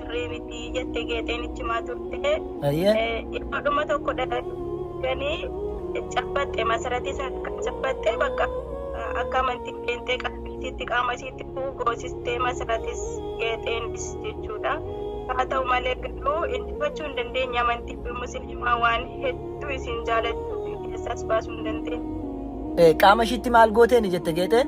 sirrii miti jette geexeen ichimaa turte. Ayyee. Yeroo dhuma tokko dhaganii cabbatte masaratii sana kan cabbatte bakka akka amantiin qeenxee qalbiitiitti qaama isiitti bu'u goosistee masaratis geexeenis jechuudha. Haa ta'u malee garuu injifachuu hin dandeenye amantii fi musliimaa waan hedduu isin jaalachuu fi keessaas baasuu hin dandeenye. Eh, Qaama ishiitti maal gooteeni jette geexeen?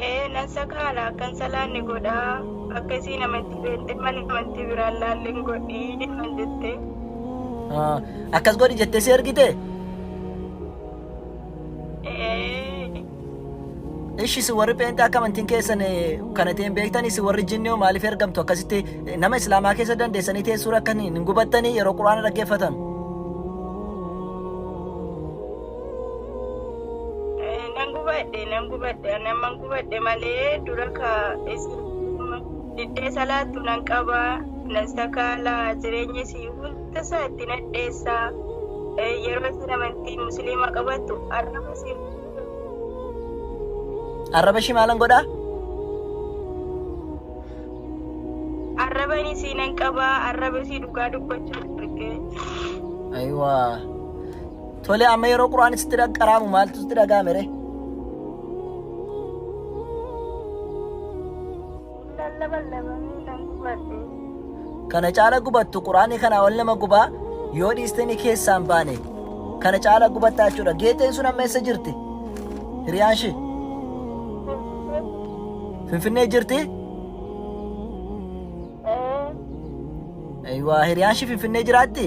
Ee nan sakaala akkan salaanne godha akka isiin amantii beekte mana amantii biraan laalleen godhi naan jette. Ah, Akkas godhi jettee si ergite? Ee Ishi si warri pheenxee akka amantiin keessan eh, kana ta'e hin beektani si warri jinni hoo maaliif ergamtu akkasitti eh, nama islaamaa keessa dandeessanii teessuu rakkanii hin gubattanii yeroo quraana dhaggeeffatan. Eh, Nan gubadhe, nan gubadhe, ani amman gubadhe malee dura ka isin diddee salaattu nan qaba, nan sakaala, jireenya isii hunda isaa itti nadheessa. Eh, Yeroo isin amantii musliimaa qabattu arraba isin Arraba ishii maalan godhaa? arraban isii nan qaba, arraba isii dhugaa dubbachuu arge. Ayiwaa. Tole amma yeroo quraan sitti qaraamu maaltu sitti dhaga'ame ree? Kana caala gubattu quraanni kana ol nama gubaa yoo dhiistanii keessaan baane kana caala gubattaa jechuudha. Geexeen sun amma eessa jirti? Hiriyaan ishee Finfinnee jirti? Waa hiriyaan ishee Finfinnee jiraatti?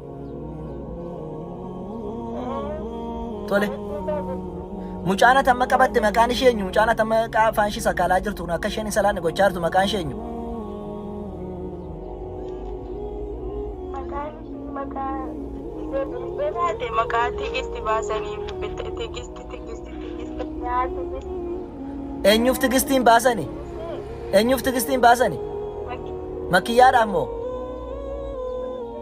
Tole. Mucaan ati amma qabatte maqaan ishee eenyu? Mucaan ati amma qaa- afaan ishii sakaalaa jirtu kun akka isheen hin salaanne gochaa jirtu maqaan ishee eenyu? Maqaan ishii maqaa Ebaate maqaa tigisti baasanii bitte tigisti tigisti tigisti nyaata tigisti Eenyuuf tigistiin baasani? Eenyuuf tigistiin baasani? Makkiyyaadhaaf moo?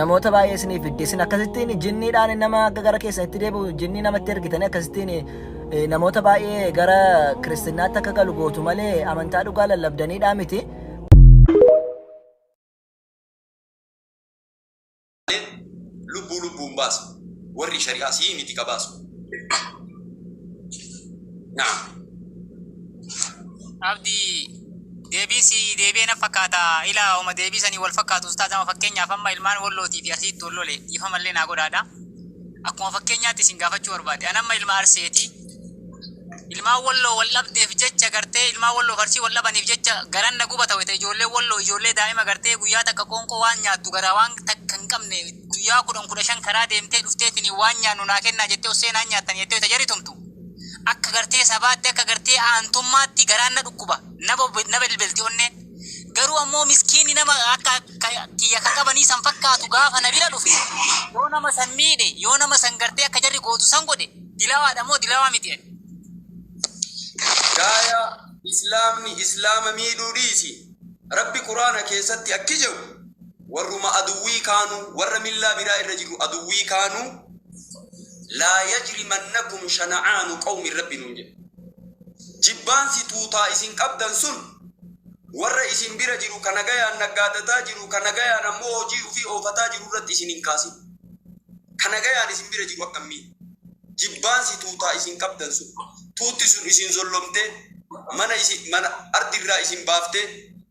namoota baay'ee isinii fidde isin akkasittiin jinniidhaan nama akka gara keessan itti deebi'u jinnii namatti ergitanii akkasittiin eh, namoota baay'ee gara kiristaanaatti akka galu gootu malee amantaa dhugaa lallabdaniidhaa miti. lubbuu lubbuun baasu warri shari'aa sii miti ka baasu. Naam. Abdii Deebiin sii deebi'e na fakkaata ilaa homa deebii sanii wal fakkaatu ustaaz ama fakkeenyaaf amma ilmaan wallootii fi arsiitti wal lole dhiifama illee naa godhaadha akkuma fakkeenyaatti isin gaafachuu barbaade an amma ilma arseeti ilmaan walloo wal dhabdeef jecha gartee ilmaan walloo fi arsii wal dhabaniif jecha garan na gubata wayita ijoollee walloo ijoollee daa'ima gartee guyyaa takka qoonqoo waan nyaattu garaa waan takka hin qabne guyyaa kudhan kudha shan karaa deemtee dhufteetiin waan nyaannu naa kennaa jettee ossee naan nyaattan jettee wayita jaritumtu Akka gartee sabaatti akka gartee aantummaatti garaan na dhukkuba. Na bob- na belbelti onneen. Garuu ammoo miskiinni nama akka ka- kiyya ka qabanii san fakkaatu gaafa na bira dhufe yoo nama san miidhe yoo nama san gartee akka jarri gootu san godhe dilawaadha moo dilawaa miti ani. Gaaya Islaamni Islaama miidhuu dhiisi. Rabbi Quraana keessatti akki jedhu warruma aduwwii kaanuu warra millaa biraa irra jiru aduwwii kaanuu Laa yajrimannakum shana'aanu qawmin Rabbi nuun jedhe. Jibbaansi tuutaa isin qabdan sun warra isin bira jiru ka nagayaan naggaadataa jiru ka nagayaan ammoo hojii ufii oofataa jiru irratti isin hin kaasin. Ka nagayaan isin bira jiru akkammiin? Jibbaansi tuutaa isin qabdan sun tuutti sun isin zollomtee mana isin mana ardirraa isin baaftee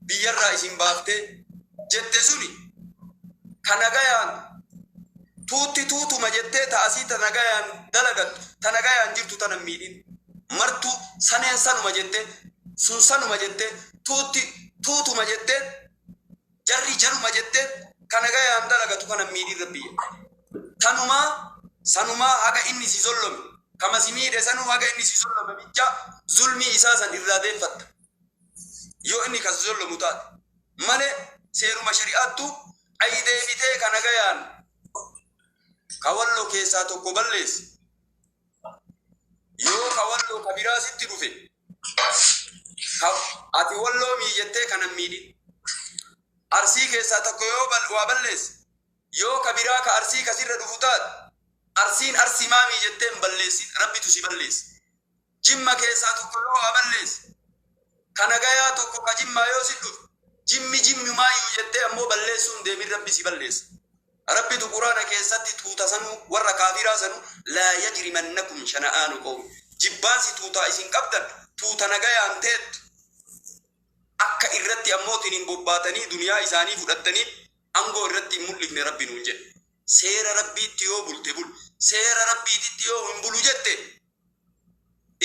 biyyarraa isin baaftee jette suni ka nagayaan Tuutti tuutuma jettee ta asii ta nagayaan dalagattu, ta nagayaan jirtu tana hin miidhin. Martuu saneen sanuma jette, sun sanuma jette, tuutti tuutuma jette, jarri jaruma jette, ka nagayaan dalagatu kana hin miidhin Rabbi jedhe. Tanumaa, sanumaa haga inni si zollome, kama si miidhe sanuu haga inni si zollome bicha zulmii isaa san irraa deeffatta. Yoo inni ka si zollomu taate. Malee seeruma shari'aattu Ayi deebitee ka nagayaan ka walloo keessaa tokko balleesse yoo ka walloo ka biraa sitti dhufe ka ati walloo miijettee kana hin miidhin. Arsii keessaa tokko yoo bal- waa balleesse yoo ka biraa ka arsii ka sirra dhufu taate arsiin arsii maa miijettee hin balleessin rabbitu si balleessa. Jimma keessaa tokko yoo waa balleesse, ka nagayaa tokko ka Jimmaa yoo si dhufe, Jimmi Jimmumaayyuu jettee ammoo balleessuu hin deemin Rabbi si balleessa. Rabbitu Qur'aana keessatti tuuta sanuu, warra kaafiraa sanuu, laa yajrimannakum shana'aanu qawmin, jibbaansi tuutaa isin qabdan, tuuta nagayaan teettu, akka irratti ammootiin hin bobbaatanii duniyaa isaanii fudhattaniif angoo irratti hin mul'ifne Rabbi nuun jedhe. Seera Rabbiitti yoo bulte bul, seera Rabbiititti yoo hin bulu jette,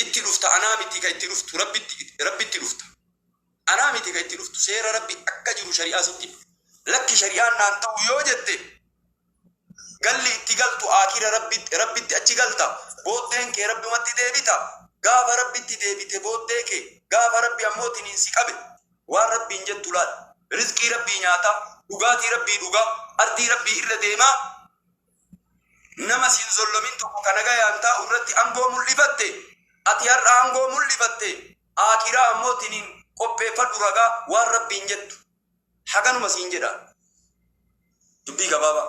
itti dhufta anaa miti ka itti dhuftu rabbitti rabbitti dhufta anaa miti ka itti dhuftu seera rabbi akka jiru shari'aa sitti lakki shari'aan naan ta'u yoo jette galli itti galtu aakira rabbitti rabbitti achi galta booddeen kee rabbumatti deebita gaafa rabbitti deebite booddee kee gaafa rabbi ammoo tiniin si qabe waan rabbiin jettu laal rizqii rabbii nyaata dhugaatii rabbii dhugaa ardii rabbii irra deemaa Nama sin zollomin tokko ka nagayaan taa'u irratti angoo mul'ifatte, ati har'a angoo mul'ifatte, aakhiraa ammoo tiniin qopheeffadhu ragaa waan Rabbiin jettu haganuma siin jedha. Dubbii gabaabaa.